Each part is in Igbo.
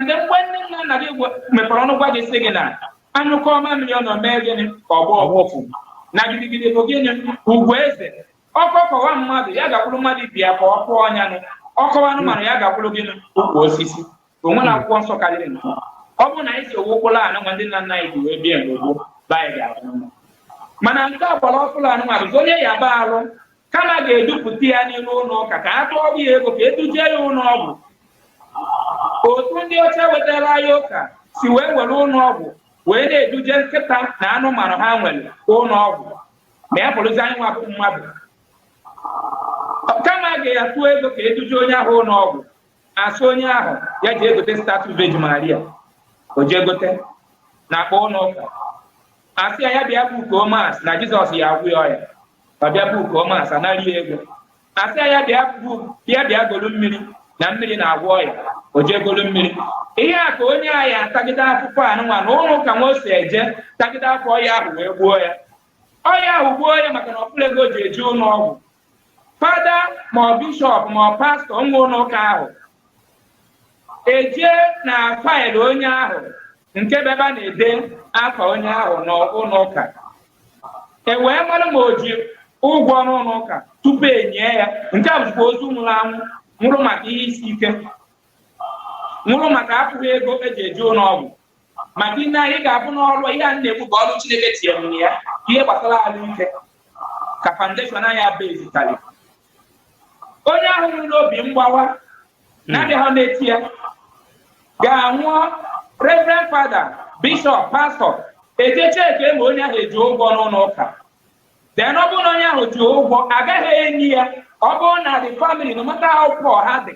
ndị mgbe nne nna nna gị gwa- mepere ọnụ gwa gị sị gị na a nyụkọọ mamịrị ọnụ o mee gịnị ka ọ gbọọ ụfụfụ na gidigidi bụ gịnị ugwu eze ọkọ kọwa mmadụ ya gakwuru mmadụ ibe ya ka ọ kọọ onye ahụ ọ kọwa anụmanụ ya gakwuru gịnị ukwu osisi o nwere akwụkwọ nsọ karịrị nke a. ọ bụrụ na anyị sowe ụkpụrụ anụnwa ndị nna nna anyị ji wee bie mgbe gboo be anyị ga-adị mma mana nke a gbara ọkpụrụ anụmanụ onye yaba arụ kama a ga-edupụta ya n'iru ụlọ ụka ka a tụọrọ ya ego ka e duje ya ụlọ ọgwụ otu ndị ọcha wetara ya ụka si wee were ụlọ ọgwụ wee na-eduje nkịta na anụmanụ ha nwere ụlọ ọgwụ ma ya bụrụzi anyị nwa bụ mmadụ kama a ga-atụ ego ka e duje onye ahụ ụlọ ọgwụ a sị onye ahụ ya jee gote statue Vejin Maria o jee gote n'akpa ụlọ ụka a sị ya ya bịa bookuo mass na jizọs ya-agwọ ya ọya ọ bịa bookuo mass a nara ya ego a sị ya bịa bịa bịa golu mmiri na mmiri na-agwọ ọya o jee golu mmiri ihe a ka onye a ya-atagide afụfụ anụnwa n'ụlọ ụka nwa o si eje tagide afụfụ ọya ahụ wee gbuo ya ọya ahụ gbuo ya maka na ọ fụrọ ego o ji eje ụlọ ọgwụ fada ma ọ bishọp ma ọ pastọ nwe ụlọ ụka ahụ ejee na file onye ahụ nke bụ ebe a na-ede afa onye ahụ n'ụlọ ụka e wee mara ma o ji ụgwọ n'ụlọ ụka tupu e nie ya nke a bụzikwa ozu nwụrụ anwụ nwụrụ maka ihe isi ike nwụrụ maka afụghị ego e ji eje ụlọ ọgwụ maka na anyị ga-abụ n'ọrụ ihe a na-ekwu bụ ọrụ Chineke tinyere ya ihe gbasara ahụ ike ka foundation anyị bezitali onye ahụ nwụrụ n'obi mgbawa hmm. na-abịa ha n'eti ya ga-anwụọ reverend fada bishọp pastọ ejee checkie ma onye ahụ eji ụgwọ n'ụlọ ụka then ọ bụrụ na onye ahụ ji ụgwọ a gaghị eni ya ọ bụrụ na the family no matter how poor ha dị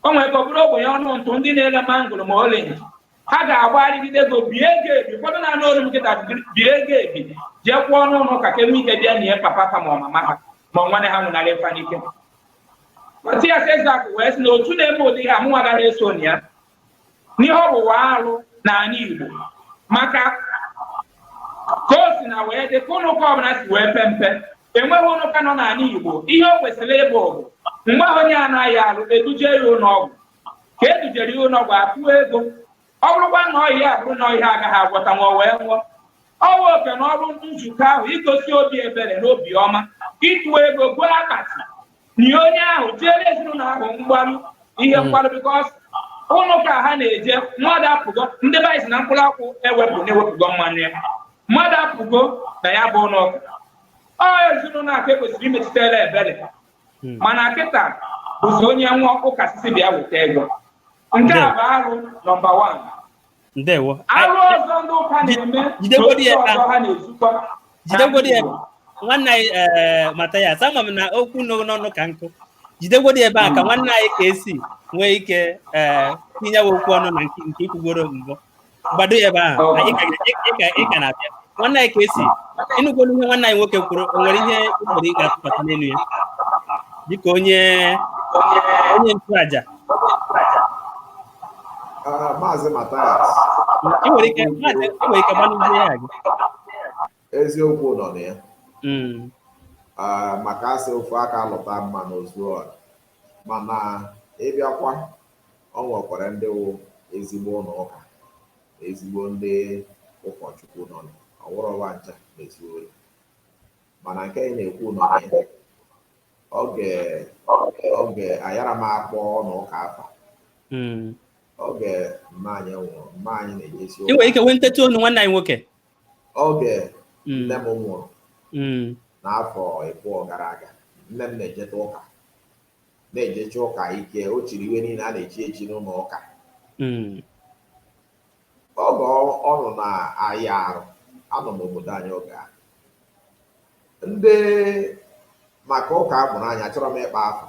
o nwere ike ọ bụrụ ogbenye ọnụ ntụ ndị na-ele mangoro ma orange ha ga-agbarịgide ego bie ya ebi ụfọdụ na-anụ olu m kịta bie ya ebi jee kwụọ n'ụlọ ụka ka e nwee ike bịa nie papa ha ma ọ mama ha ma nwanne ha nwụnarị fa n'ike Matias Ezeaku wee sị na otu na-eme ụdị ihe a mụnwa agaghị eso na ya na ihe ọ bụ wụ arụ n'ala Igbo maka ka o si na wee dị ka ụlọ ụka ọbụla si wee pe mpe enweghị ụlọ ụka nọ n'ala Igbo ihe o kwesịrị ịbụ bụ mgbe ahụ onye a na-aya arụ e duje ya ụlọ ọgwụ ka e dujere ya ụlọ ọgwụ a tụọ ego ọ bụrụkwa na ọya ya bụrụ na ọya a gaghị agwọta o wee nwụọ ọ wụ oke na ọrụ nzukọ ahụ igosi obi ebere na obi ọma ịtụ ego goo akpati nie onye ahụ jeere ezinụlọ ahụ mgbaru ihe mgbaru because ụlọ ụka ha na-eje mmadụ apụgo that means na mkpụrụ akwụ ewepụ na e wepụgo mmanụ ya mmadụ apụgo na ya bụ ụlọ ụka ọ ezinụlọ a ka e kwesịrị imetụtara ebere hmm. mana kịta bụzi onye nwụọ ụka asị sị bịa weta ego nke a bụ arụ nọmba wan ndewo arụ ọzọ ndị ụka na-eme jidegodi ya ọzọ ha na-ezukọ jidegodi ya nwanne anyị eh, Mathias ama m na okwu nọ n'ọnụ ka nkụ jidegodi ebe a ka hmm. nwanne anyị KC nwee ike eh, tinyewe okwu ọnụ na nke i kwugoro mbụ gbado ebe ahụ oh. anyị ka na-abịa nwanne anyị KC ị nụgolu ihe nwanne anyị nwoke kwuru o nwere ihe ụfọdụ ị ga-atụpụta n'elu ya dịka onye onye nchụaja ah, maazị Mathias ị nwere ike gbanụ ihe ya gị eziokwu nọ na ya hmm. ah, maka a sị ofu aka lụta mmanụ o zuo ọra mana ị bịakwa Ọ nwekwara ndị wụ ezigbo ụnọ ụka na ezigbo ndị ụkọchukwu nọ na ọ wụrọ wa ncha na-ezu ori. Mana nke anyị na-ekwu nọ na ya oge oge ayara m akpọ ụnọ ụka afa Mm. oge mma anyị nwụrụ mma anyị na-ejesi ị nwere ike wenitetụ onu nwanne anyị nwoke oge Mm. nne m nwụrụ Mm. n'afọ ịbụọ gara aga nne m na-ejeta ụka na-ejecha ụka ike o chiri iwe niile a na-echi echi n'ụnọ ụka mm. oge ọ nọ na-aya arụ anọ m obodo anyị oge a ndị maka ụka a mụrụ anyị achọrọ m ịkpọ afa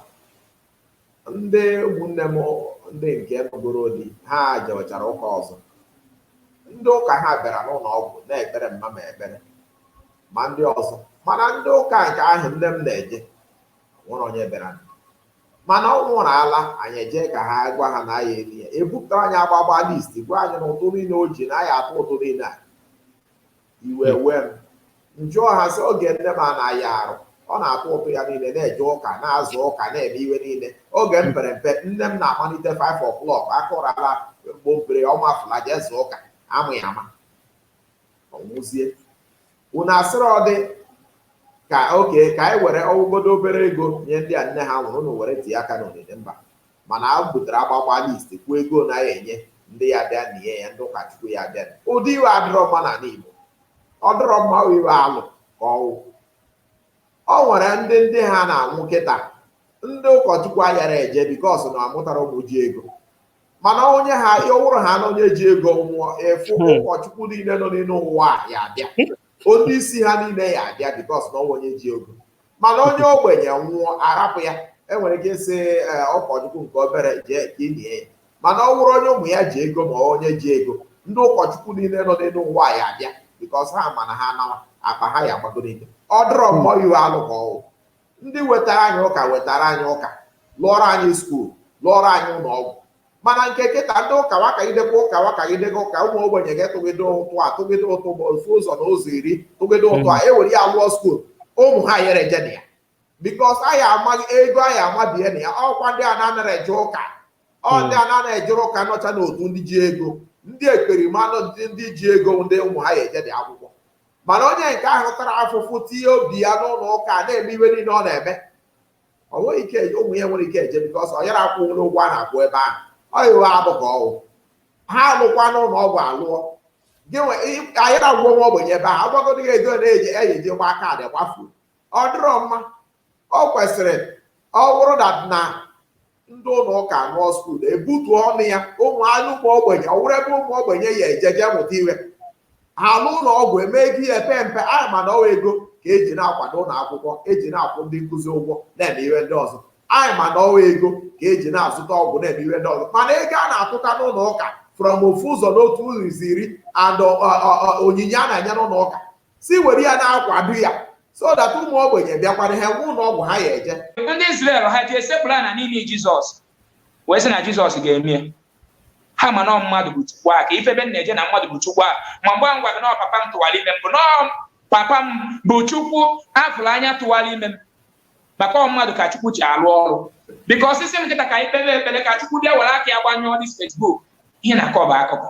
ndị ụmụnne m ndị nke nụgoro di ha jewechara ụka ọzọ ndị ụka ha bịara n'ụlọ ọgwụ na-ekpere mma m ekpere ma ndị ọzọ mana ndị ụka nke ahụ nne m na-eje nwerọ onye bịara mana ọ nwụrụ ala anyị eje ka a gwa ha na a ya-eli ya e bupụtara anyị agbagba list gwa anyị na ụtụ niile o ji na anyị ya-atụ ụtụ niile a iwe hmm. wee m m jụọ ha sị oge nne m ana aya arụ ọ na-atụ ụtụ ya niile na-eje ụka na-aza ụka na-eme iwe niile oge m pere mpe nne m na-amalite 5 o'clock akụrala mgbompere ọ mafụla jee zaa ụka a ma ya ama ọ nwụzie unu asịrọdị okay ka anyị were ọ wụgodu obere ego nye ndị a nne ha nwụrụ unu were tinye aka n'onini mba mana a butere agbakwa list kwuo ego anyị ya-enye ndị ya-abịa na ihe ya ndị ụkọchukwu ya-abịa ụdị iwe adịrọ mma n'ala Igbo ọ dịrọ mma iwe alụ ka ọ wụ ọ nwere ndị ndị ha na-anwụ kịta ndị ụkọchukwu ayara eje because na amụtara ụmụ ji ego mana onye ha ọ wụrụ ha na onye ji ego nwụọ efu hmm. ụkọchukwu niile nọ n'elu ụwa ya-abịa onye isi ha niile ya-abịa because na ọ wụ onye ji ego mana onye ogbenye nwụọ arapụ ya e nwere ike ịsị eh, ụkọchukwu nke obere jee ka i nie ya mana ọ wụrụ onye ụmụ ya ji ego ma onye ji ego ndị ụkọchukwu niile nọ n'elu ụwa ya-abịa because ha ma na ha anawa akpa ha ya-agbagonite ọ dịrọ mma iwe alụ ka ọ wụ ndị wetara anyị ụka wetara anyị ụka lụọrọ anyị skuul lụọrọ anyị ụlọ ọgwụ mana nke kịta ndị ụka wakagidekwa ụka wakagidego ụka ụmụ ogbenye ga-atụgide ụtụ a tụgide ụtụ bụ ofu ụzọ na ụzọ iri tụgide ụtụ a ewere ya lụọ skuul ụmụ ha yara eje na ya bikos anyị amaghị ego anyị amabie na ya ọkwa ndị a na-anara eje ụka ọ ndị a na-anara ejere ụka nọcha n'otu ndị ji ego ndị ekperima na ndị ji ego ndị ụmụ ha ya eje na akwụkwọ mana onye nke ahụ tara afụfụ tinye obi ya n'ụlọ ụka na-eme iwe niile ọ na-eme ọ nweghị ike ụmụ ya enwerọ ike eje bikọs ọ yara akwụnwu ụgwọ a na-akwụ ebe ahụ ọ yiwe abụ ka ọwụ ha lụkwanụ ụlọ ọgwụ alụọ ayara agwọ nwa ogbenye ebe ahụ agwagodi gị ego na-eji eji gba kaadị ị gbafuo ọ dịrọ mma ọ kwesịrị ọ wụrụ na na ndị ụlọ ụka lụọ skuul ebutuo ọnụ ya ụmụ anyị ụmụ ogbenye ọ wụrụ ebe ụmụ ogbenye ya eje jee mụta iwe ha alụ ụlọ ọgwụ emee ego ya epe mpe anyị ma na ọ wụ ego ka eji na-akwado ụlọ akwụkwọ eji na-akwụ ndị nkụzi ụgwọ na-eme iwe ndị ọzọ anyị ma na ọ wụ ego ka eji na-azụta ọgwụ na-eme iwe ndị ọzọ mana ego a na-atụta n'ụlọ ụka from ofu ụzọ n'otu ụzọ iri and onyinye a na-enye n'ụlọ ụka si were ya na-akwado ya so that ụmụ ogbenye bịakwara ha nwee ụlọ ọgwụ ha ya eje ndị Izrel ha ji esekpụrụ ana n'iru Jizọs wee sị na Jizọs ga-eme ya ha ma na ọ mmadụ bụ chukwu aka ife ebe na-eje na mmadụ bụ chukwu aka ma mgbe m gwa gị na ọ papa m tụwara ime m bụ na ọ papa m bụ chukwu a fụrụ anya tụwara ime m maka ọ mmadụ ka chukwu ji alụ ọrụ bikọs ị sị kịta ka anyị kpebe ekpere ka chukwu bịa were aka ya gbanyụọ dis Facebook ihe ị na-akọ bụ akụkọ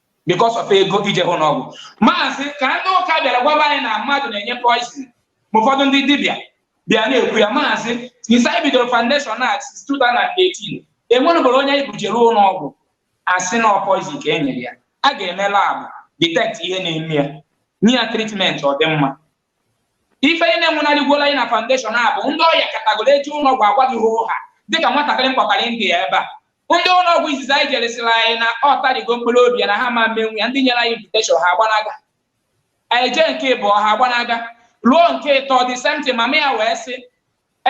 because of ego ije ụnọ ọgwụ maazị ka ndị ụka bịara gwaba anyị na mmadụ na-enye poison ma ụfọdụ ndị dibịa bịa na-ekwu ya ma since anyị bidoro foundation a since 2018 enwenụberọ onye anyị bujere ụlọ ọgwụ a sị na ọ poison ka e nyere ya a ga-eme lab detect ihe na-eme ya nye ya tritment ọ dị mma Ife niile nwụnarịgoro anyị na foundation a bụ ndị ọya katagoro e jee ụlọọgwụ a gwa gị hoo ha dịka nwatakịrị m kpọtara India ebe a. Ndị ụlọọgwụ izizi anyị jere sịrị anyị na ọ tarigo mkpụrụ obi ya na ha ama emenwu ya ndị nyere anyị invitation ha agbanaga. Anyị jee nke ịbụọ ha agbanaga. Ruo nke ịtọ the same thing mama ya wee sị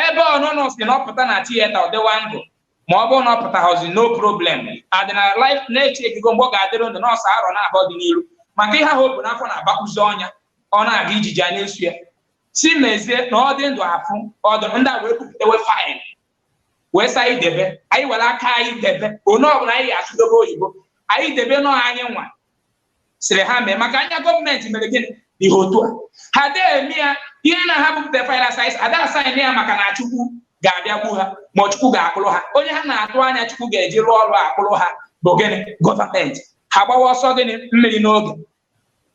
ebe ọ na ụnụ sị na ọ pụta na tiyeta ọ dịwa ndụ ma ọ bụrụ na ọ pụtahọzi no problem adị na life na echebigo mgbe ọ ga-adịrị ndụ na ọ sọ arọ naabọ dị n'iru maka ihe ahụ o bu n'afọ na-abakwụzi ọnya ọ na-aga ijiji a na-eso ya si mezie na ọ dị ndụ afụ ọdụ ndị a wee bupụtewe faịl wee sị anyị debe anyị were aka anyị debe onye ọbụla anyị ga-asụdobe oyibo anyị debe na ọ anyị nwa sịrị ha mee maka anya gọọmenti mere gịnị ihe otu a ha dee eme ya ihe na ha bupụta final size ada asaịn ya maka na chukwu ga-abịa gbuo ha ma chukwu ga-akpụrụ ha onye ha na-atụ anya chukwu ga-eji rụọ ọrụ akpụrụ ha bụ gịnị gọọmenti ha gbawa ọsọ gịnị mmiri n'oge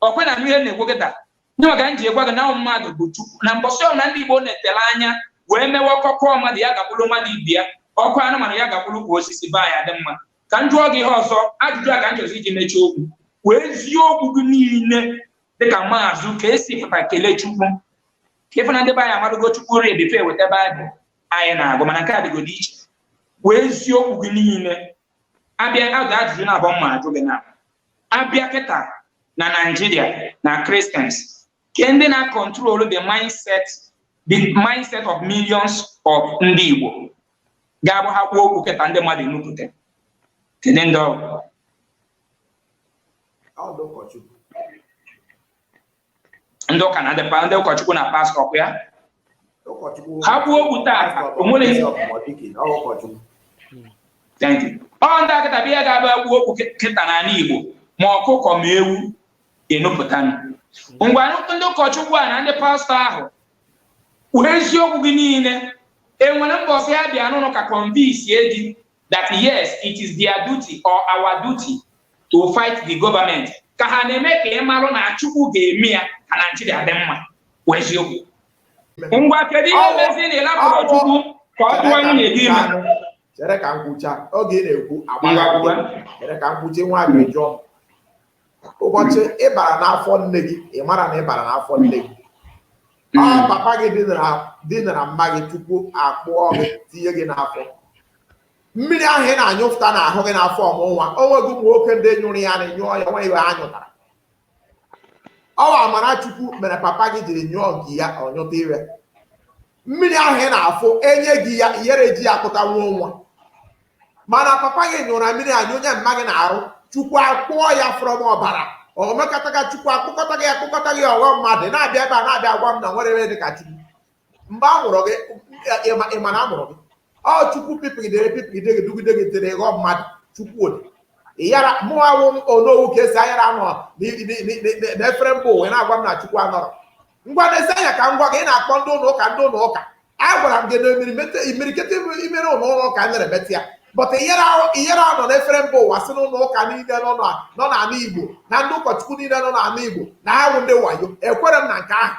ọkwe na mmiri na-ekwo kịta ndị maka m ji agwa gị na ahụ mmadụ bụ chukwu na mbọsị ọrụ na ndị igbo na-etere anya wee mewe ọkọkọ mmadụ ya gakwuru mmadụ ibi ya ọkụ anụmanụ ya gakwuru kwa osisi be anyị adị mma ka m jụọ gị ihe ọzọ ajụjụ a ka m chọzi iji mechie okwu wee eziokwu gị niile dịka maazụ ka esi pụta kelee chukwu ị fụ na ndị be anyị amadogo chukwu rii before e weta baịbụl anyị na-agụ mana nke a dịgodo iche wee eziokwu gị niile abịa ajụ ajụjụ na-abụ m na-ajụ gị na a bịa kịta na naijiria na Christians Kee ndị na-control the mindset the mindset of millions of ndị Igbo ga-abụ ha kwuo okwu kịta ndị mmadụ enupụta kedu ndị ọ wụ ndị ụka na ndị ụkọchukwu na pastọ ọ kwa ya ha kwuo okwu taa o nwere ọ ndị akịta bụ ihe ga-abụ kwuo okwu kịta n'ala Igbo ma ọkụkọ ma ewu ga-enupụtanụ ngwa ndị ụkọchukwu a na ndị pastọ ahụ kwuo eziokwu gị niile e nwere mbọsị ha bịa n'ụlọ ụka convince gị that yes it is their duty or our duty to fight the government ka ha na-eme ka ị marụ na Chukwu ga-eme ya ka Naijiria dị mma kwuo eziokwu ngwa kedu ihe mezi na ị lapụrọ Chukwu ka ọ tụọ nwunye gị ime chere ka m kwucha oge ị na-ekwu agbaghị chere ka m kwuchaa nwa ajụjụ ụbọchị ị bara n'afọ nne gị ị mara na ị bara n'afọ nne gị ọ hmm. papa gị dinara mma gị chukwu akpụọ gị tinye gị n'afọ mmiri ahụ ị na-anyụpụta n'ahụ gị n'afọ ọ mụọ nwa o nweghị ụmụ nwoke ndị nyụrụ ya na nyụọ ya o nweghị ihe ha nyụtara ọ wụ amara chukwu mere papa gị jiri nyụọ nke ya ọ nyụta ihe mmiri ahụ ị na-afụ e nye gị ya ihere ji ya kpụta nwa nwa mana papa gị nyụrụ ya mmiri a nyụnye mma gị n'arụ chukwu akpụọ ya from ọbara o mekọtaga chukwu akpụkọta gị akpụkọta gị ọ ghọọ mmadụ na-abịa ebe a na-abịa agwa m na o nwerọ ihe dị ka chukwu mgbe a mụrụ gị ị ma na a mụrụ gị ọ chukwu pipigidere pipigide gị dugide gị i were ghọọ mmadụ chukwu ode ịyara mụ awụ m onowu ka esi ayara anọ na efere mba ụwa na-agwa m na chukwu anọrọ ngwa nezie anya ka m gwa gị ị na-akpọ ndị ụlọ ụka ndị ụlọ ụka agwara m gị na imirikiti imirikiti imere ụlọ ụlọ ụka mere metị ya but ihere ahụ ihere ahụ nọ n'efere mba ụwa si n'ụlọ ụka niile nọ na- nọ n'ala igbo na ndị ụkọchukwu niile nọ n'ala igbo na ha wụ ndị wayo ekwere m na nke ahụ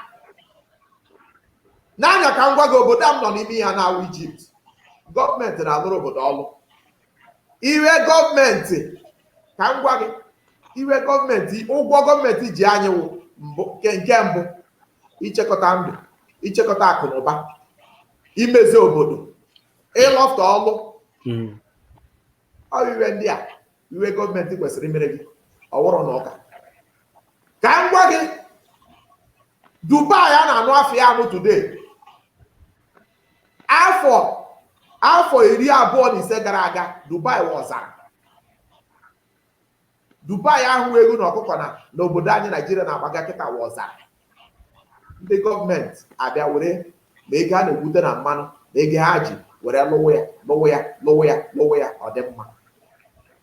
nee anya ka m gwa gị obodo a m nọ n'ime ya na-awụ Egypt gọọmenti na-alụrụ obodo ọlụ iwe gọọmenti ka m gwa gị iwe gọọmenti ụgwọ gọọmenti ji anyị wụ mbụ nke nke mbụ ichekọta ndụ ichekọta akụ na ụba imezi obodo ịlọfụta ọlụ Mm. ọ bụ iwe ndị a iwe gọọmenti kwesịrị imere gị ọ wụrọ ụnọ ụka ka m gwa gị dubai a na-anụ afa ya anụ today Afọ afọ iri abụọ na ise gara aga, Dubai wụ ọzara. Dubai ahụ ewu na ọkụkọ nọ n'obodo anyị Naijiria na-agbaga kịta wụ ọzara. Ndị gọọmenti abịa were ma ego ha na-egwute na mmanụ na ego ha ji were lụwa ya lụwa ya lụwa ya lụwa ya ọ dị mma.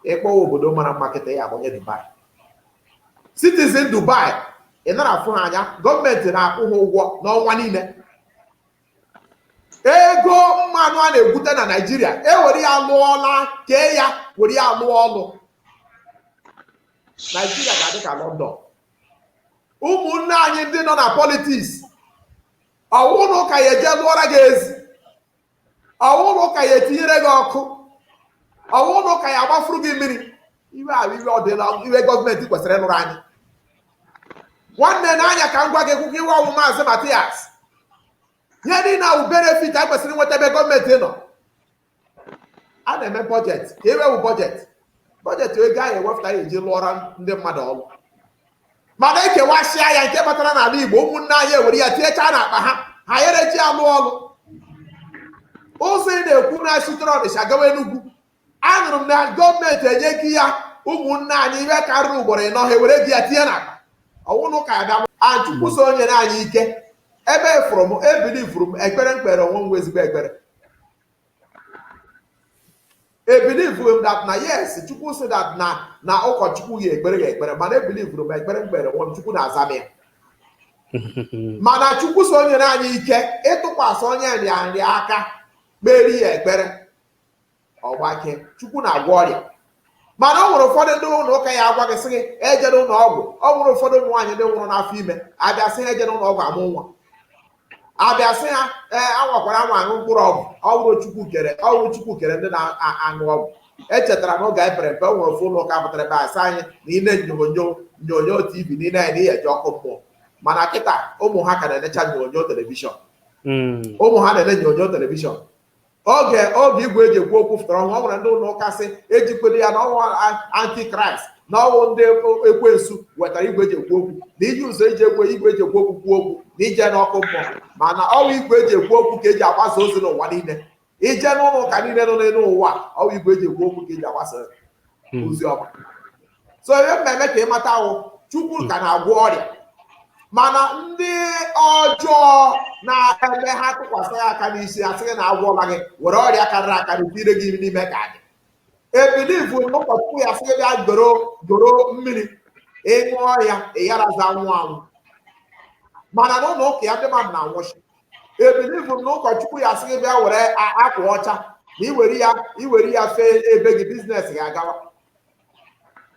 Ị kpọwa obodo mara mma kịta ya agụnye Dubai. Citizen Dubai ị nara afụ ha anya gọọmenti na-akwụ ha ụgwọ n'ọnwa niile ego mmanụ a na-egwute na naijiria ewere ya lụọ ọlụ ka e ya were ya lụọ ọlụ naijiria ga-adị ka lọndọn ụmụnne anyị ndị nọ na politiks ọ wụrọ ụka ya eje lụọra gị ezi ọ wụrọ ụka ya etinyere gị ọkụ ọ wụrọ ụka ya agbafuru gị mmiri iwe ahụ iwe ndị a iwe gọọmenti kwesịrị ịlụrụ anyị nwanne n'anya ka m gwa gị kwụkwọ iwe ọ wụ maazị Matias ihe niile a wụ benefit a kwesịrị inweta ebe gọọmenti nọ a na-eme bọjetị ka ewewụ bọjetị bọjetị ego ahụ ewepụta ya eji lụọra ndị mmadụ ọrụ mana ekewasịa ya nke batara n'ala Igbo ụmụnne anyị ewere ya tinyechaa n'akpa ha ha yere eji alụ ọrụ ụzọ ị na-ekwu na-esitere Ọnịsha gawa Enugwu anụrụ m na gọọmenti enyego ya ụmụnne anyị ihe karịrị ugboro ịnọ ha ewere ego ya tinye na akpa ọ wụ ụnọ ụka ada chukwu so nyere anyị ike ebilivuru m ebilivuru m ekpere m kpere onwe m ezigbo ekpere ebilivuru m that na yes chukwu sị that na na ụkọchukwu ya ekpere ya ekpere mana ebilivuru m ekpere m kpere onwe m chukwu na-aza m ya mana chukwu so nyere anyị ike ịtụkwasị onye nrịanrịa aka kpere ya ekpere ọ gbakee chukwu na-agwọ ọrịa mana ọ nwere ụfọdụ ndị ụlọ ụka ya agwa gị sị gị ejere ụlọ ọgwụ ọ nwere ụfọdụ ụmụ nwaanyị ndị nwụrụ n'afọ ime abịa sị ha ejere ụlọ ọgwụ amụ nwa abịa sị ha ee anwakwara anwa aṅụ mkpụrụ ọgwụ ọ wụrọ chukwu kere ọ wụrọ chukwu kere ndị na-aṅụ ọgwụ echetara na oge anyị pere mpe o nwere ofu ụlọ ụka pụtara abịa sị anyị na ile nyonyo nyonyo tv na ile anya na ị ya eje ọkụ mmụọ mana kịta ụmụ ha ka na-enecha nyonyo telivishọn hmm. ụmụ ha na-ele nyonyo telivishọn oge oge igwe eji ekwu okwu fụtara ọhụrụ ọ nwere ndị ụlọ ụka sị ejikwere ya na ọ wụ antichrist na ọ wụ ndị ekwensu wetara igwe eji ekwu okwu na iji ụzọ eji ekwe igwe eji ekwu okwu kwuo okwu na i je n'ọkụ mmụọ mana ọ wụ igwe eji ekwu okwu ka eji agbasa ozi n'ụwa niile i je n'ụlọ ụka niile nọ n'elu ụwa ọ wụ igwe eji ekwu okwu ka eji agbasa hmm. ozi ọma so ihe m na-eme ka ị mata wụ chukwu ka na-agwọ ọrịa mana ndị ọjọọ na-eme ha tụkwasị gị aka n'isi asị gị na agwọla gị were ọrịa karịrị akarị tinye gị n'ime ka dị ebilivu na ụkọchukwu ya sị gị bịa goro goro mmiri ị ṅụọ ya ị yarazị anwụ anwụ mana n'ụlọ ụka ya ndị mmadụ na-anwụsị ebilivu na ụkọchukwu ya sị gị bịa were akwa ọcha na i were ya i were ya fee ebe gị business gị agawa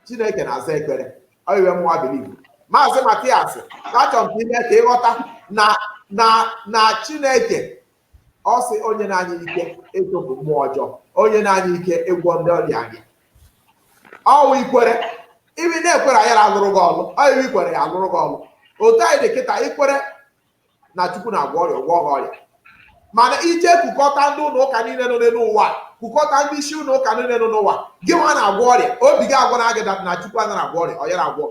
chineke na-aza ekpere ọ iwe mụwa bilivu maazị matias achọrọ m ime ka ị ghọta na na na chineke ọ sị o nyena anyị ike ịchụpụ mmụọ ọjọọ o nyena anyị ike ịgwọ ndị ọrịa anyị ọ wụ i kwere iwe ị na-ekwere ayara alụrụ gị ọlụ ọ iwe i kwere ya alụrụ gị ọlụ otu anyị dị kịta i kwere na chukwu na-agwọ ọrịa ọ gwọọ gị ọrịa mana i je kukọta ndị ụlọ ụka niile nọ n'elu ụwa kukọta ndị isi ụlọ ụka niile nọ n'ụwa gị nwa na-agwọ ọrịa obi gị agwana gị na chukwu anaghị agwọ ọrịa ọ yara agwọ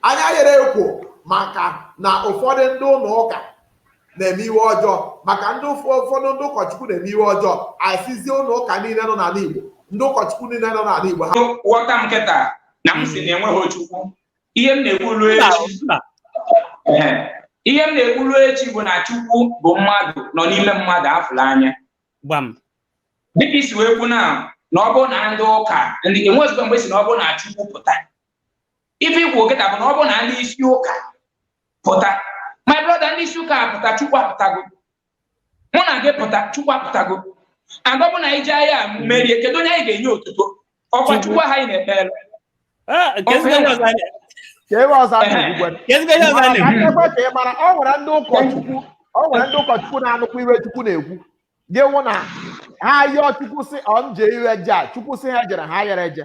anyị yere ekwu maka na ụfọdụ ndị ụlọ ụka na-eme iwe ọjọọ maka ndị ụfọdụ ndị ụkọchukwu na-eme iwe ọjọọ asịzie ụlọ ụka niile nọ n'ala Igbo ndị ụkọchukwu niile nọ n'ala Igbo ha ghọta m kịta na m sị na enweghị Chukwu ihe m na-ekwu ruo echi Ehe. ihe m na-ekwu ruo echi bụ na chukwu bụ mmadụ nọ n'ime mmadụ afụla anya gbam dịka i si wee kwuo na na ọ bụrụ na ndị ụka ndị enwezikwa mgbe ị sị na ọ bụrụ na chukwu pụta ife i kwu kịta bụ na ọ bụrụ na ndị isi ụka pụta my brother ndị isi ụka pụta chukwu apụtago mụ na gị pụta chukwu apụtago and ọ bụ na anyị jee agha merie kedu onye anyị ga-enye otuto ọ kwa chukwu ahụ anyị na-ekpere ah, ọ nwere ndị ụkọchukwu ọ nwere ndị ụkọchukwu na-anụkwa iwe chukwu na-ekwu gị wụ na ha yọọ chukwu sị ọ m je iwe je a chukwu sị ha ejere ha yere eje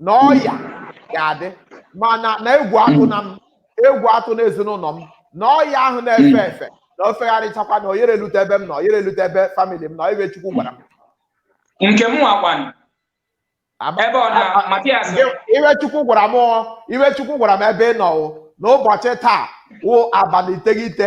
na ọya ga-adị mma na egwu atụna m egwu atụna ezinụlọ m na ọya ahụ na-efe efe na o fegharịchakwa na o yere elute ebe m na o yere elute ebe famili m na ọ iwe Chukwu gwara m nke m nwakwanụ Ama- ebe ọ na ama- Matias Iwe- iwe Chukwu gwara m ọ, iwe Chukwu gwara m ebe ị nọ o, n'ụbọchị taa wụ abalị iteghete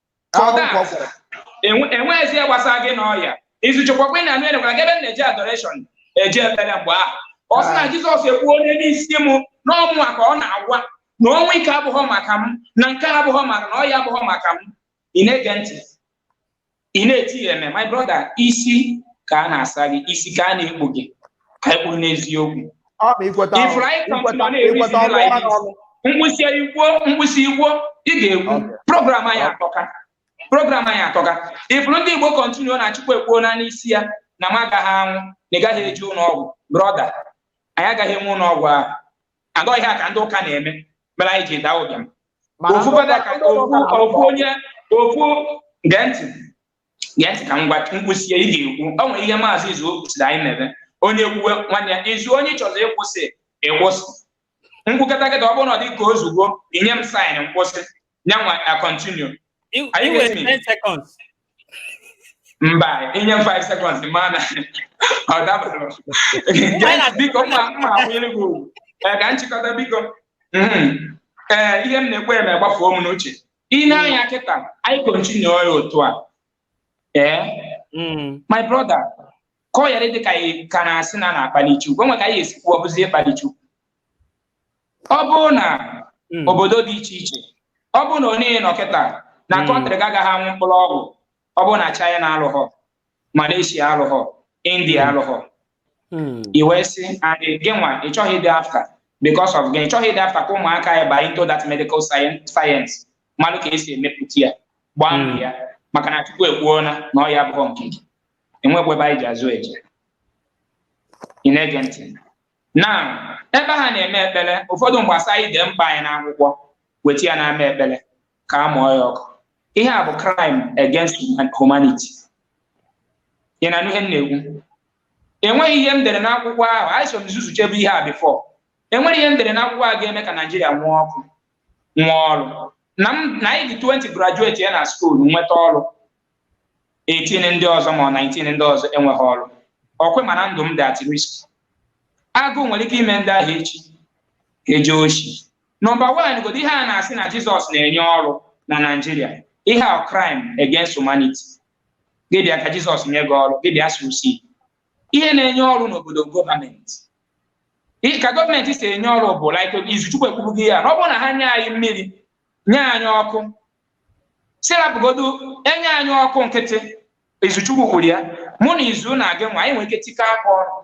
enweghịzi ihe gbasara gị na ọya izuchekwakwa ị na-anụ enegwara gị ebe m na-eje adoreshọn eji ebere mgbe ahụ ọ sị na ah. jizọs ekwuo ihe n'isi m n'ọnwụ a ka ọ na-agwa na ọnwụ ike abụghọ maka m na nke abụghọ maka m na ọya abụghọ maka m ị na-ege ntị ị na-eti amen my brother isi ka a na-asa gị isi ka a na-ekpu gị ka anyị kwuru n'eziokwu ọ bụ ikweta ọrụ ifuru anyị kọntinu ikweta na-eri ikweta ọrụ similar ọrụ ọrụ mkpịsị kwuo mkpịsị kwuo ihe ị ga-ekwu Okay. program anyị atọka program anyị atọka ifuru ndị igbo kọntinu na chukwu ekwuona n'isi ya na m agaghị anwụ na ị gaghị eje ụlọ ọgwụ brọda anyị agaghị enwe ụlọ ọgwụ ahụ and ihe a ka ndị ụka na-eme mere anyị ji daa ụbịam Mana ofu ndị fada ụka- ka ndị ụka ofu na-arụ ofu ọrụ. onye ofu gee ntị ya ka m gwa mkpịsị ihe ị ga-ekwu o nwere ihe maazị izu kwụsịrị anyị na-eme onye kwuwe nwanne ya izu onye ị chọziri ịkwụsị ị kwụsị m kwukata kịta ọ bụrụ na ọ dị ka ozugbo i nye m saịn m kwụsị nyanwa na kọntinu mba i nye m 5 seconds ma na ọ dabara biko mma mma akwanyere gị ugwu ka m chịkọta biko ee ihe m na-ekwu eme gbafuo m n'uche i nee anya kịta anyị kontinue ya otu a ee mm. my brother ka ọ yara dị ka ị ka na-asị na a na-akpali Chukwu enwe ka anyị ya-esi kwuo ọ bụzie ịkpali Chukwu ọ bụrụ na mm. obodo dị iche iche ọ bụrụ na onye nọ kịta na kọntrị gị agaghị aṅụ mkpụrụ ọgwụ ọ bụrụ na China alụghọ Malaysia alụghọ India hmm. alụghọ hmm. i wee sị and gị nwa ị chọghị ịdị afta because of gị ị chọghị ịdị afta ka ụmụaka ya baa into that medical science malụ ka esi emepụta ya gbaa hmm. mbọ ya maka na Chukwu ekwuona na ọya abụghọ nke gị enwekwa ebe anyị ji azụ eje ị na-ege ntị na ebe ha na-eme ekpere ụfọdụ mgbe a sị anyị dee mkpa anyị n'akwụkwọ weta ya n'ama ekpere ka a mụọ ya ọkụ ihe a bụ crime against human- humanity ị na-anụ ihe m na-ekwu enweghị ihe m dere n'akwụkwọ ahụ anyị so nzuzu chebu ihe a bifọ enweghị ihe m dere n'akwụkwọ a ga-eme ka naijiria nwee ọkụ nwee ọrụ na m na anyị dị 20 graduatia na skuul nweta ọrụ 18 ndị ọzọ ma ọ 19 ndị ọzọ enweghị ọrụ ọ kwa ị ma na ndụ m dị at risk agụụ nwere ike ime ndị ahụ echi eje oshi nọmba wan godo ihe a na-asị na jizọs na-enye ọrụ na naijiria ihe a crime against humanity gị bịa ka jizọs nye gị ọrụ gị bịa susi ihe na-enye ọrụ n'obodo gọọmenti Ị- ka gọọmenti si enye ọrụ bụ like izuchukwu ekwubu gị ya na ọ bụrụ na ha nye anyị mmiri nye anyị ọkụ sị rapụgodu enye anyị ọkụ nkịtị izuchukwu kwuru ya mụ na izu na gị nwa anyị nwere ike tikọọ aka ọrụ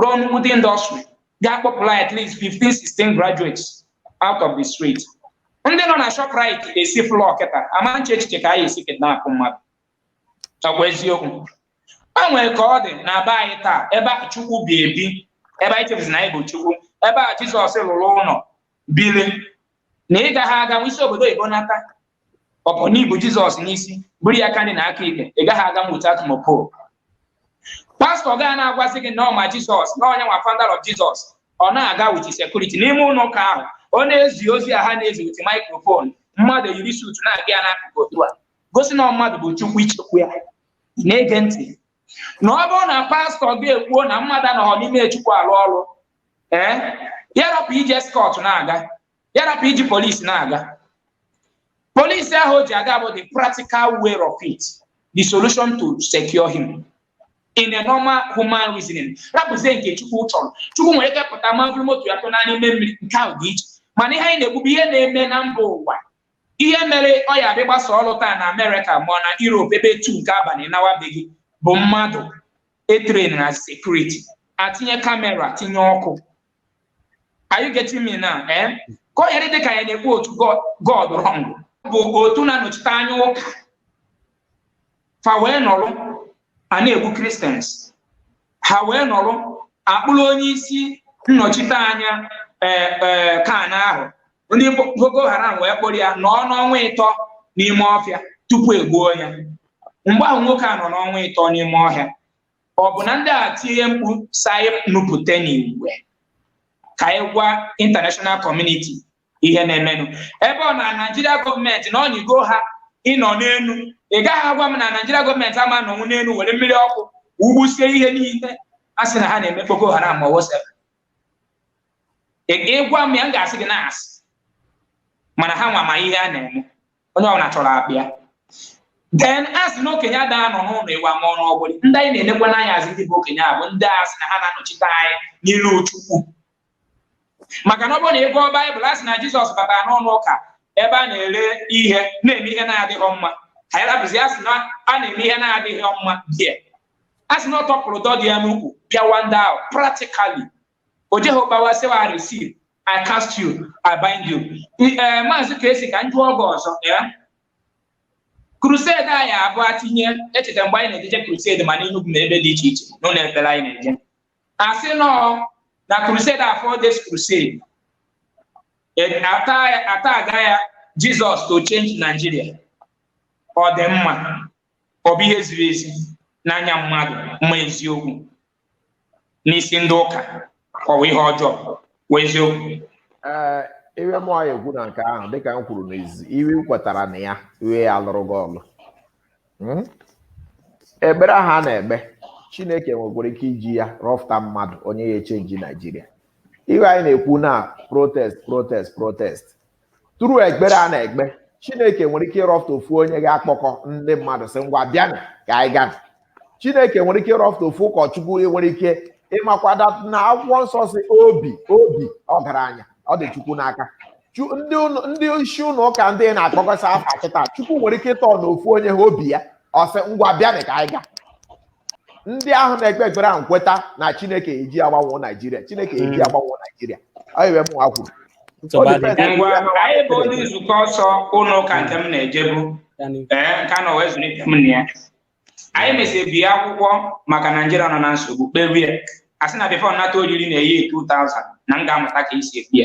rụọ nnukwute indọstrị ga-akpọpụrụ anyị at least 15 16 graduates out of the street ndị nọ na Shoprite esi flọ kịta ama na-eche echiche ka anyị esi kidnap mmadụ ọkwa eziokwu o nwere ka ọ dị na be anyị taa ebe a Chukwu bi ebi ebe anyị chebuzi na anyị bụ Chukwu ebe a Jizọs lụrụ ụlọ biri na ị gaghị aga isi obodo oyibo nata ọ bụ na i bu jizọs n'isi buru ya aka nri na aka ekpe ị gaghị aga nweta atụmọpo pastọ gaa na-agwazi gị na ọ ma jizọs na ọ nya nwa founder of jizọs ọ na-aga with sekuriti n'ime ụlọ ụka ahụ ọ na-ezi ozi a ha na-ezi with microphone mmadụ yiri suutu na-aga ya n'akụkụ otu a gosi na mmadụ bụ chukwu ichekwu ya na-ege ntị na ọ bụrụ na pastọ gị ekwuo na mmadụ anọghọ n'ime chukwu alụ ọrụ ee ya rapụ iji eskọt na-aga ya rapụ iji polisi na-aga polisi ahụ o ji aga bụ the practical way of it the solution to secure him in a normal human reasoning rapụzie nke chukwu chọrọ chukwu nwere ike pụta ma buru moto ya tụnye n'ime mmiri nke ahụ dị iche mana ihe anyị na-ekwu bụ ihe na-eme na mba ụwa Ihe mere ọ ya adị gbasa ọrụ taa na Amerịka ma ọ na Europe ebe etu nke abalị nawabeghị bụ mmadụ etren na sekuriti atinye kamera tinye ọkụ are you getting me now eh? ka ọ yara dị ka anyị na-ekwu otu God wrong bụ otu na-anọchite anya ụka fa wee nọrọ a na-egbu Christians ha wee nọrọ a kpụrụ onye isi nnọchite anya ee eh, eh, CAN ahụ ndị Boko Haram wee kpụrụ ya nọọ n'ọnwa ịtọ n'ime ọfịa tupu egbuo ya mgbe ahụ nwoke a nọ n'ọnwa ịtọ n'ime ọhịa ọ bụ na ndị a tie mkpu sị anyị nupụta n'igwe ka anyị gwa international community ihe na-emenụ ebe ọ na Naijiria gọọmenti na ọ nyịgo ha ịnọ n'elu ị gaghị agwa m na Naijiria gọọmenti ama anọnwu n'elu were mmiri ọkụ wugbusie ihe niile a sị na ha na-eme Boko Haram ma wosara ị gwa m ya m ga-asị gị na asị mana ha nwa ma ihe a na-eme onye ọbụla chọrọ abịa then a sị na okenye ada anọ n'ụlọ ewu amụọ n'ọgbụrị ndị anyị na-enekwa anya a sị ndị bụ okenye a bụ ndị a sị na ha na-anọchite anyị n'ilu Chukwu maka na ọ bụrụ na ị gụọ Baịbụl a sị na Jizọs batara n'ụnọ ụka ebe a na-ere ihe na-eme ihe na-adịghị mma anyị rapụzi a sị na a na-eme ihe na-adịghị mma be ya a sị na ọ tọpụrụ ụdọ dị ya n'ukwu pịawa ndị ahụ practically o jeghị gbawa sịwa I receive I cast you I bind you ee maazị ka esi ka m jụọ gị ọzọ ya crusade anyị abụọ atinye echeta mgbe anyị na-ejeje crusade ma n'Enugu na ebe dị iche iche n'ụlọ ekpere anyị na-eje a sị na ọ na crusade afọ this crusade ata aga ya Jizọs to change Nigeria ọ dị mma ọ bụ ihe ziri ezi n'anya mmadụ mana eziokwu n'isi ndị ụka ọ bụ ihe ọjọọ bụ eziokwu ee ihe mụ anyị ekwu na nke ahụ dịka m kwuru n'izu ihe i kwetara na ya ihe ya-alụrụ gị ọlụ Hmm? ekpere ahụ a na-ekpe chineke nwekwara ike iji ya rọpụta mmadụ onye ya-echenji naijiria ihe anyị na-ekwu na protest protest protest through ekpere a na-ekpe chineke nwere ike ịrọpụta ofu onye ga-akpọkọ ndị mmadụ sị ngwa bịanụ ka anyị gaa chineke nwere ike ịrọpụta ofu ụkọchukwu nwere ike ị makwara na akwụkwọ nsọ sị obi obi ọgaranya ọ dị chukwu n'aka ndị isi ụlọ ụka ndị na-akpọkọsa afa kịta chukwu nwere ike ịtọn ofu onye ha obi ya ọ sị ngwa bịanị ka anyị gaa ndị ahụ na-ekpe ekpere ahụ kweta na chineke je-agbanwo naijiria chineke je hmm. agbanwo naijiria ọ ihe mụnwa kwuru anyị bụ ndị nzukọ nsọ ụlọ ụka nke m na-ejebu ee nke a nọ wee zụlite m na ya anyị mesịrị bie akwụkwọ maka naijiria nọ na nsogbu kpebe ya a sị na bifo m nata oriri na year 2000 na m ga-amụta ka e si ekpe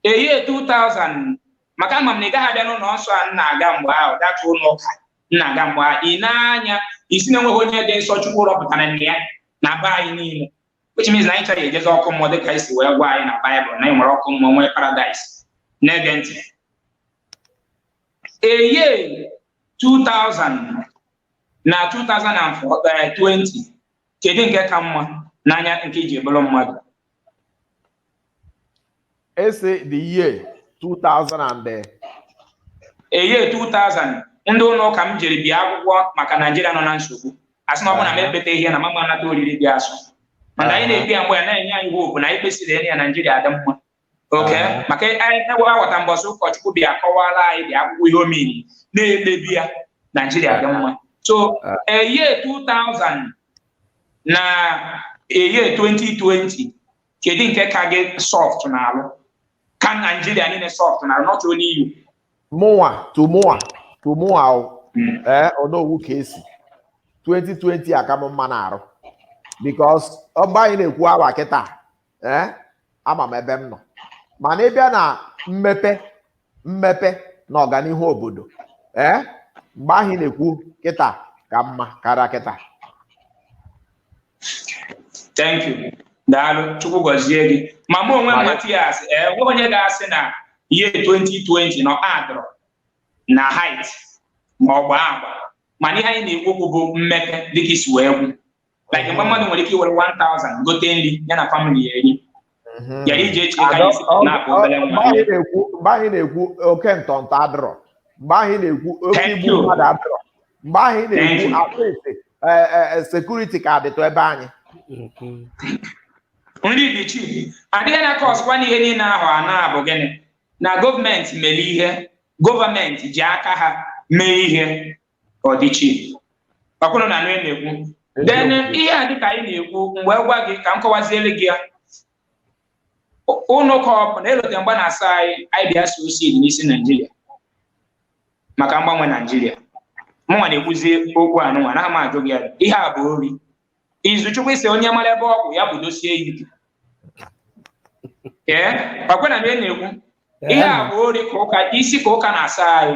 ya year 2000 maka ama m na ị gaghị abịa n'ụlọ nsọ a na-aga mgbe ahụ data ụlọ ụka na-aga mgbe a ị na-anya isi na enweghị onye dị nsọ chukwu rọpụtara nne ya na be anyị niile which means na anyị ncha ya-ejezi ọkụ mmụọ dịka e si wee gwa anyị na baịbụl na anyị nwere ọkụ mmụọ nwee paradaịs na-ege ntị year 2000 na 2020 kedu nke ka mma n'anya nke i ji bụrụ mmadụ ese the year 2000 and the year 2000 ndị ụlọ ụka m jiri bie akwụkwọ maka naijiria nọ na nsogbu a sị na ọ bụrụ na m ekpetaghị ya na m ama anata oriri dị asọ mana anyị na-ekpe ya mgbe ahụ na-enye anyị hopu na anyị kpesịrị ya naijiria adị mma okay maka ewe aghọta mbọsị ụkọchukwu bịa kọwara anyị the akwụkwọ ihe ọ mean na e kpebe ya naijiria dị mma so year 2000 na year 2020 kedu nke ka gị sọft n'alụ ka naijiria niile sọft n'alụ not only you mụnwa to mụnwa to mụnwa hmm. ee o nweghị ka e si 2020 aka m mma n'arụ bikos mgbe ahụ ị na-ekwu awa kịta ee ama m ebe m nọ mana ị bịa na mmepe mmepe na ọganihu obodo ee mgbe ahụ ị na-ekwu kịta ka mma karịa kịta thank you daalụ chukwu gọzie gị ma mụ onwe m matias ee eh, onye ga-asị na year 2020 na adịrọ na hait ma ọ bụ agba mana ihe anyị na-ekwu okwu bụ mmepe dịka i si wee kwuo like mgbe mmadụ nwere ike iwere 1000 gote nri ya na famili ya eri ya iji eche ka anyị si na-akụ obere nwa mgbe anyị na-ekwu mgbe anyị na-ekwu oke ntọntọ adịrọ mgbe anyị na-ekwu oke igbu mmadụ adịrọ mgbe anyị na-ekwu atịtị sekuriti ka adịtụ ebe anyị nri dị cheap adịghị na kọsụkwa n'ihe niile ahụ a na-abụ gịnị na gọọmenti mere ihe gọọmenti ji aka ha mee ihe ka ọ dị chief ọkwa ụnụ na-anụ ihe m na-ekwu then ihe a dịka anyị na-ekwu mgbe gwa gị ka m kọwaziere gị ya ụnụ ka ọ bụ na-elote mgba na-asa anyị anyị bịa so osid n'isi naijiria maka mgbanwe naijiria mụnwa na-ekwuzi okwu anụnwa na ama ajụ gị ya ihe a bụ ori Izuchukwu sị onye mara ebe ọ kwụ ya kwụdosie ike ee ọkwa ị na-anụ ihe m na-ekwu ihe a bụ ori isi ka ụka na-asa anyị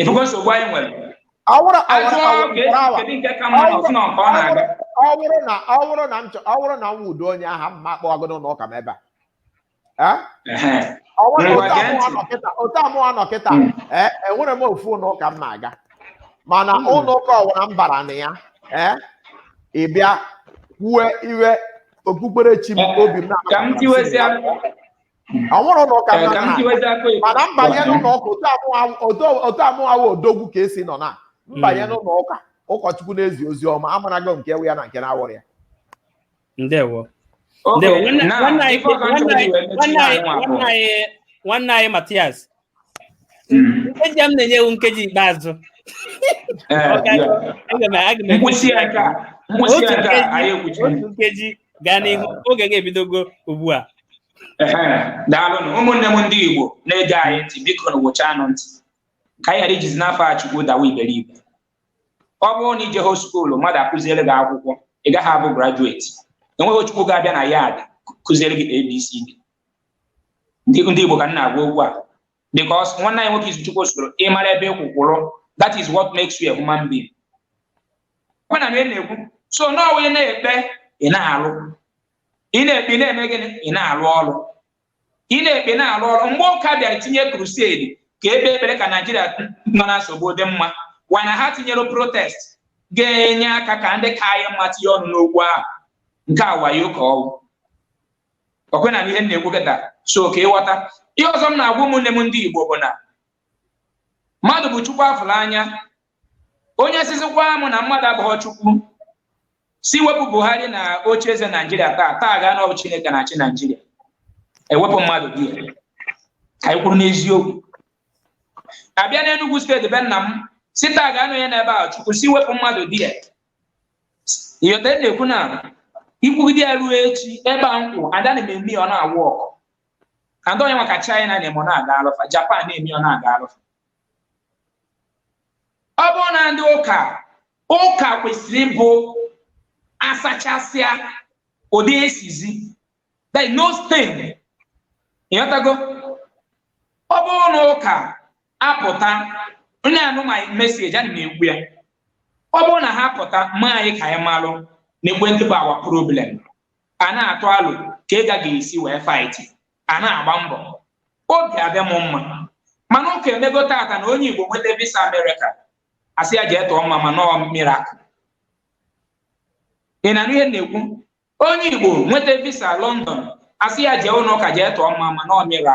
ịfụgo nsogbu anyị nwere ọ bụrụ ọ bụrụ- ọ bụrụ- ọ bụrụ- kedu nke ka mma na ọsụ na nke ọ na-aga ọ bụrụ na ọ bụrụ na m chọ- ọ bụrụ na m wudo onye aha m ma kpọọ gị n'ụlọ ụka m ebe a Eh? Ehe. Ọ bụrụ na Ngwa gee ntị. otu a mụwa nọ kịta- otu a mụwa nọ kịta Mm. eh, enwere m ofu ụlọ ụka m na-aga mana Mm. ụlọ ụka ọ wụla m bara na ya eh, ị bịa kwue ihe okpukperechi m Eh, obi m ka m tiwezie ọ nwụrụ ụlọ ụka nna nna mana m banye n'ụlọ ụka otu a mụwa odogwu ka esi nọ na m banye hmm. n'ụlọ ụka ụkọchukwu na-ezi ozi ọma amarago nke wụ ya na nke na-awụrọ ya ndewo nwanne anyị Matias nkeji m na-enye wụ nkeji ikpeazụ nkwụsị ya nke a nkwụsị ya nke a anyị ekwuchi otu nkeji gaa n'ihu oge gị ebidogo ugbu a daalụnụ ụmụnne m ndị Igbo na-ege anyị ntị bikonụ wụchaanụ ntị ka anyị ghara ijizi n'afọ a Chukwu dawa iberibe ọ bụrụ na i jehọ skuulu mmadụ akụziere gị akwụkwọ ị gaghị abụ grajueti enweghị Chukwu ga-abịa na ya ada kụziere gị ABCD ndị ndị Igbo ka m na-agwa okwu a because nwanne anyị nwoke Izuchukwu sịrị ị mara ebe ị kwụ kwụrụ that is what makes you a human being ọ na ị na-ekwu so na ọ wụ ị na-ekpe ị na-alụ ị na-ekpe ị na-eme gịnị ị na-alụ ọrụ ị na-ekpe na-alụ ọrụ mgbe ụka bịara tinye krusedi ka e kpee ekpere ka naijiria nọ na nsogbu dị mma wana ha tinyere protest ga-enye aka ka ndị ka anyị mma tinye ọnụ n'okwu ahụ nke a wayo ka ọ wụ ọkwa ị na-anụ ihe m na-ekwu kịta so ka ị ghọta ihe ọzọ m na-agwa ụmụnne m ndị Igbo bụ na mmadụ bụ Chukwu a fụrụ anya onye sịzịkwa m na mmadụ abụghị Chukwu si wepụ Buhari na oche eze Naijiria taa taa gaa na ọ bụ Chineke na-achị Naijiria e wepụ mmadụ dị ya ka anyị kwuru n'eziokwu a bịa n'Enugwu steeti be nna m si taa gaa n'onye n'ebe a Chukwu si wepụ mmadụ dị ya ị ghọta ihe na-ekwu na ikwugide ya ruo echi ebe a nkwụ ndị a na-eme ọ na-awork ada onye maka China na-eme ọ na-agalụ fa Japan na-eme ọ na-agalụ fa ọ bụrụ na ndị ụka ụka kwesịrị ịbụ asachasịa ụdị esizi there is no stain ịghọtago ọ bụrụ na ụka apụta onye anụmaghị message ana m ekwu ya ọ bụrụ na ha pụta ma anyị ka anyị malụ na ekwentị bụ our problem a na-atụ alo ka ị ga-esi wee fight ya na-agba mbọ obi abịa m mma mana ụka emego tata na onye igbo nweta visa America a sị ya jee tụọ mmamma na ọ miracle ị na-anụ ihe na-ekwu onye igbo nweta visa london a sị ya jee ụlọ ụka jee tụọ mmamma na ọ mira